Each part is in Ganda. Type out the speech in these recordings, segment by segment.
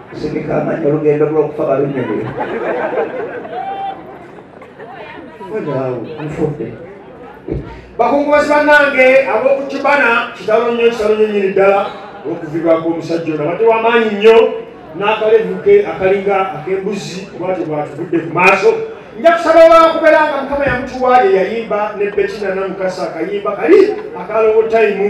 kusindika amanyi olugendo lwokufa balunyumire olyawo nfudde bakungubazi bannange ab'okukibana kitalo nnyo kitalo nnyo nyini ddala olwokuvibwako omusajja ono abadde wamaanyi nnyo n'akalevuke akalinga ak'embuzi obwatyo bwatuvudde ku maaso nja kusaba wakubeera nga mukama yamutuwa ye yayimba ne betina namukasa akayimba kali akalowo tayimu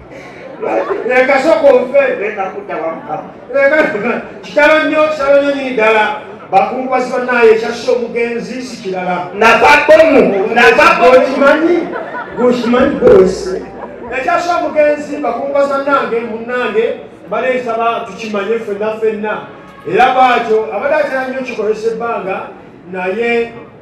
leka soka onfe leka kudda wamukama leka kitalo nnyo kitalo nnyo nyini ddala bakungubazi banaye ekyassa omugenzi si kirala nava bomu nava bokimanyi gokimanyi gowese ekyassa omugenzi bakungubazi banange munange baleesaba tukimanye fenna fenna era bwatyo abadde atera nnyo kikozesa ebbanga naye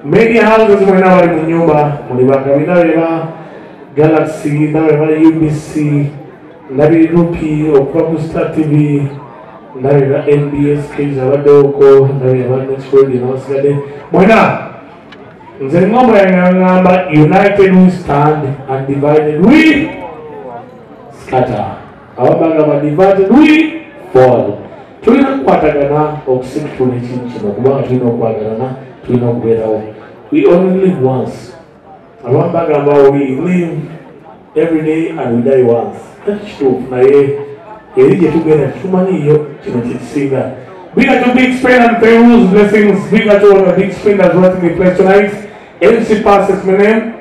Many houses mwena bali mu nyumba muli bagabi nabe ba Galaxy nabe ba UBC nabe Rupi okuva ku Star TV nabe ba NBS Kings abaddewoko nabe ba Next World nabasigadde mwena nze ngombo yangangamba united we stand and divided we scatter ababanga badivati lwi ford tulina kukwatagana okusikitula ekintu kino kubanga tulina okwagalana tulina okubeerawo we only live once abamu bagamba we live every day and we die once kati kituufu naye eri gye tugenda tetumanyiyo kino kyekisinga Big up to Big Spin and Peru's blessings. Big up to all the Big Spinners watching me play tonight. MC Passes Menem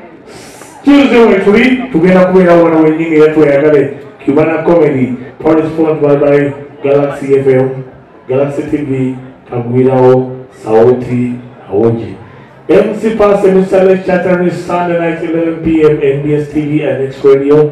Tuesday wetuli tugenda kubeera wano wenyini era tweyagale Cubana Comedy Paris Font Bye Bye Galaxy FM Galaxy TV Kagwirawo Sauti Awoji MC Pass and Mr. Lake Chatter is Sunday night 11 p.m. NBS TV and X Radio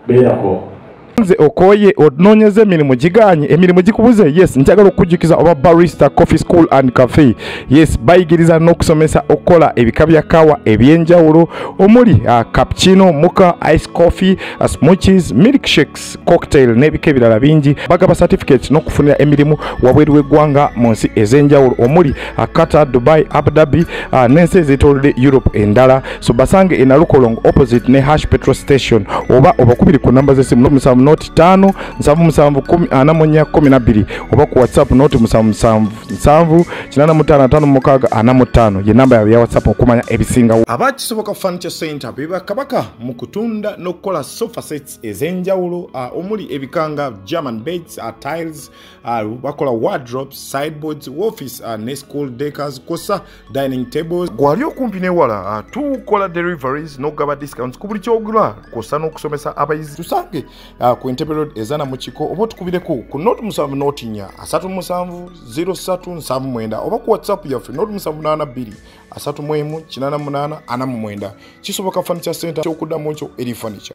beerako nze okoye ononyeza emirimu giganye emirimu gikubuze yes njagala okukujjukiza oba barista coffee school and cafe yes bayigiriza n'okusomesa okukola ebika bya kawa ebyenjawulo omuli uh, cappuccino muka ice coffee uh, smuches milk shakes cocktail n'ebika ebirala bingi bagaba certificate n'okufunira emirimu wabweru w'eggwanga mu nsi ez'enjawulo omuli uh, Qatar, Dubai, Abu Dhabi uh, n'ensi ezeetoolodde Europe endala so basange e Nalukolongo opposite ne Hash Petrol Station oba obakubiri ku namba z'essimu noti musanvu noti ttaano nsanvu musanvu ana mu nnya kkumi na bbiri oba ku WhatsApp noti musanvu musanvu nsanvu kinaana mu ttaano ataano mukaaga ana mu ttaano ye namba yaabwe ya WhatsApp okumanya ebisingawo. Aba Kisoboka Furniture Center be bakabaka mu kutunda n'okukola sofa sets ez'enjawulo uh, omuli ebikanga German beds, uh, tiles awo bakola wardrobes sideboards office uh, ne school decors kosa dining tables gwali okumpi newala uh, tukola deliveries nokugaba discounts ku buli kyogula kosa n'okusomesa abayizi tusange uh, ku entebe road ezana mu kiko oba otukubireko ku not musanvu notinya asatu musanvu 0379 oba ku whatsapp yaffe not musanvu 82 asatu mwemu kinana munana ana mumwenda kisoboka furniture center kyokuddamu ekyo eri furniture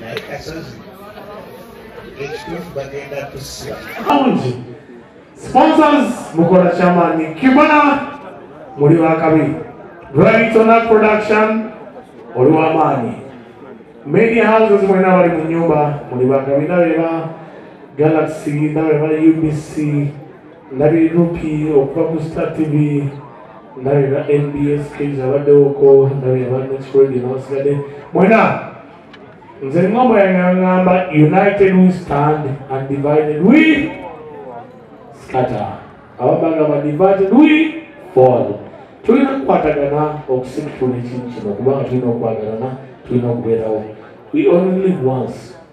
naye kasozi ekituufu bagenda kusiba sponsors mukola kyamaanyi kibona muli bakabi raytona production oli wamaanyi media houses mwena bali mu nyumba muli bakabi nabeba galaxy nabeba ubc ndabira nupi okuva ku star tv ndabira nbs kage abaddewoko ndabira ba next radio nabasigadde mwena nze ngombo yangangamba united we stand and divided we scatter ababagamba divided we fall tulina kukwatagana okusikitula ekintu kino kubanga tulina okwagalana tulina okubeerawo we only live once